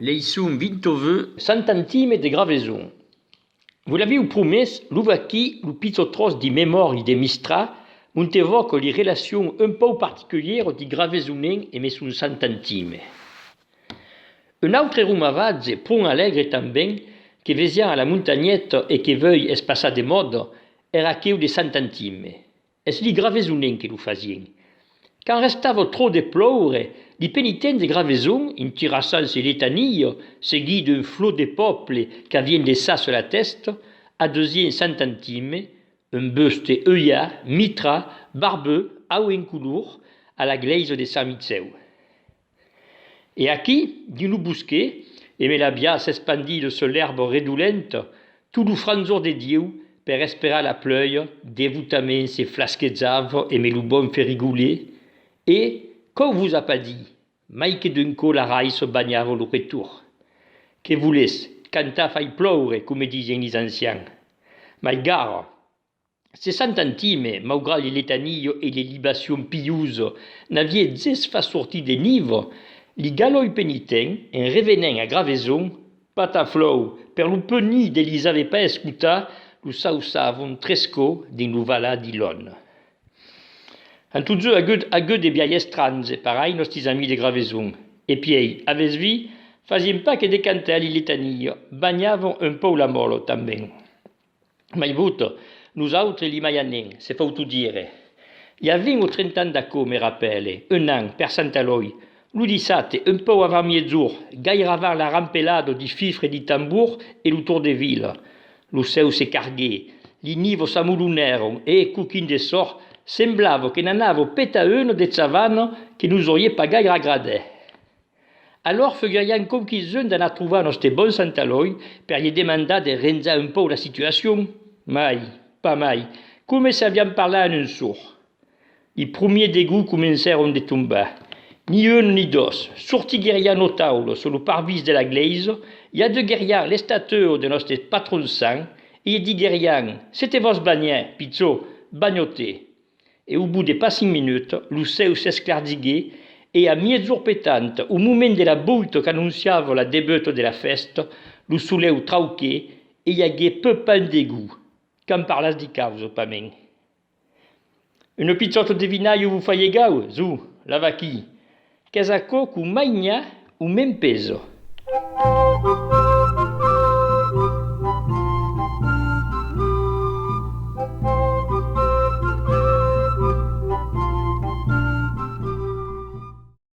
Leisson Vintoveux. Santantime de Graveson. Vos l'aviu promés, lo vaquí lo pichó tròç di memòri de Mistrà, Montevòco li relacion un pòu particulièro di Gravesonen e Meson Sant'Antime. Un autre romavatge pron alègre tanben que vesiá a la montanheta e que vei espaçar de mòda, èra aqueu de Sant'Antime. Es li gravesonen que lo fasien. Quand restava trop de ploure, li penitents de Graveson, intirassant se letania, seguit d'un flot de pòple qu'avien de ça sur la tèsta, adusien Sant Antime, un buste euiat, mitrat, barbut, au incolor, a la glèisa de Sant Micèu. E aquí, dins lo bosquet, e me l'aviá s'espandir lo sol èrb redolent, tot lo franzor de Dieu, per esperar la plèu, devotament se flasquejava e me lo bon ferrigolet, e, quò vos a pas dit, mai que d'un cò la raiço banhava lo retorn. Que volètz, cantar fai ploure, coma disián is ancians. Mai gara! Sessantantime, maugrat li letanio e li libacion piusa, n'avie ges fas sortir de nivo, li galoi penitent, en revenent a Graveson, pataflòu, per lo penir de lis ave pas escotat, lo sau savon trescò dins lo valat di Lon. An totjou agut agut de biais estranhs, parai, nòstis amis de Graveson. E piei, avètz vi, fasien pas que de cantar li letanio, banhavon un pòu la mòlo, tanben. Mai vot, nos autres li mai anem, se fauto dire. I a vint o trenta ans d'aquò, me rapèle, un an, per Sant Elòi, lo dissabte, un pauc avant miètzor, gaire avant la rampelada di fifre di tambor e lo tor de vila. Lo cèu se carguè, li nivos s'amolonèron e, coquin de sòrt, semblava que n'anava peta una de chavana que nos aurié pas gaire agradè. Alòr foguerián conquisson d'anar trobar nòste bon Sant Elòi per lhe demandar de renjar un pauc la situacion? Mai, pas mai, coma se avián parlat en un sor. Li promier degús comencèron de tombar. Ni un ni dos, sortiguerián lo taulo sus lo parvis de la glèisa, i adeguerián l'estatua de nòste patron sant e lhe diguerián, Se te vòs banhar, pichó, banho-te! e au bout de pas cinc minuts, lo cèu s'esclardiguèt e a miègjorn petant, au moment de la bout qu'anonciava la debuta de la fèsta, lo solèu trauquèt e i aguèt peu pan degú. Qu'an parlàs di caus, o pas mèn? Una pichòta de vinaiu vos fa lhegau, zo, la vaquí! Qu'es aquò qu'o mainà o mèn peso.